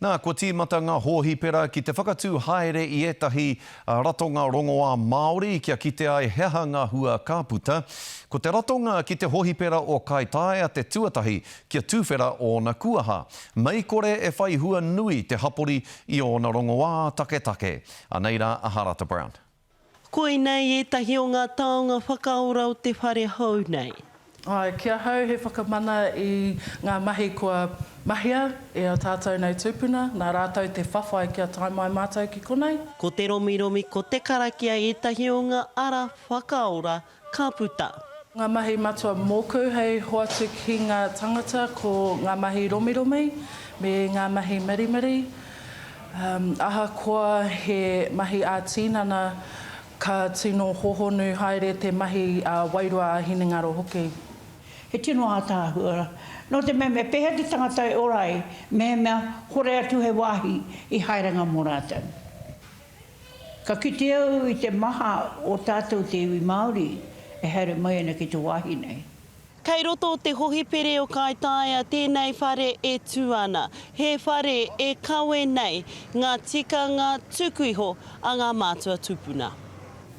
Nā, kua tīmata ngā hōhipera ki te whakatū haere i ētahi ratonga rongoā Māori kia kite ai he aha ngā hua ka puta. Ko te ratonga ki te hōhipera o Kaitaia te tuatahi kia tuwhera ōna kuaha. Mei kore e whai hua nui te hapori i ōna rongoā taketake. Anei rā a Harata Brown. Koinei ētahi o ngā taonga whakaora o te whare hou nei. Āe, ki ahau he whakamana i ngā mahi kua mahia e ā tātou nei tūpuna, nā rātou te whawhai kia tae mai mātou ki konei. Ko te romiromi, ko te karakia ētahi o ngā ara whakaora Ka puta. Ngā mahi matua mōku hei hoatu ki ngā tangata ko ngā mahi romiromi me ngā mahi mirimiri. Ahakoa he mahi ā-tinana, ka tino hohonu haere te mahi ā-wairua, ā-hinengaro hoki. He tino ātaahua nō te mea me pēhea te tangata e ora ai mehemea hore atu hei wāhi i haerenga mō rātou. Ka kite au i te maha o tātou te iwi Māori e haere mai ana ki te wāhi nei. Kei roto o te hohipere o Kaitaia tēnei whare e tū ana. He whare e kawe nei ngā tikanga tuku iho a ngā mātua tupuna.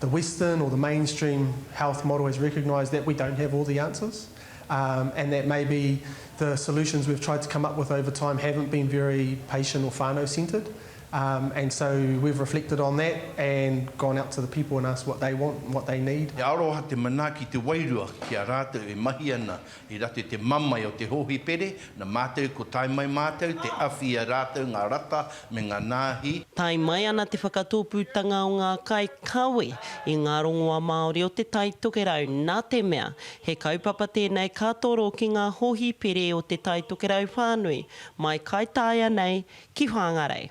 The western or the mainstream health model has recognised that we don't have all the answers and that maybe the solutions we've tried to come up with over time haven't been very patient or whānau centred. And so we've reflected on that and gone out to the people and asked what they want and what they need. He aroha te manaaki te wairua ki a rātou e mahi ana i rate te mamae o te hōhipere, na mātou ko tae mai mātou te awhi i a rātou ngā rata me ngā nāhi. Tae mai ana te whakatōpūtanga o ngā kai kawe i ngā rongoa Māori o Te Tai Tokerau, nā te mea, he kaupapa tēnei ka toro ki ngā hōhipere o Te Tai Tokerau whānui, mai Kaitaia nei ki Whāngarei.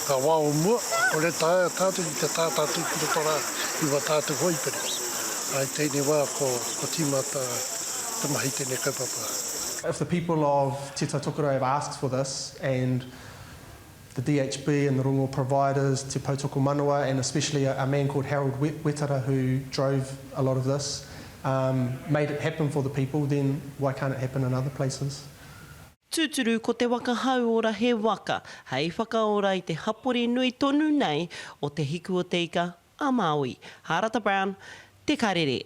Ka wā o mua, ko Retaia tātou ki te tātā tū ki roto rā i wā tātou hōipere. I tēnei wā ko tīmata te mahi i tēnei kaupapa. If the people of Te Tai Tokerau have asked for this and the DHB and the rongo providers, Te Poutokomanawa and especially a man called Harold Wetara who drove a lot of this, made it happen for the people, then why can't it happen in other places? Tūturu ko te waka hauora he waka hei whakaora i te hapori nui tonu nei o Te Hiku-o-te-ika a Māui. Hārata Brown, Te Karere.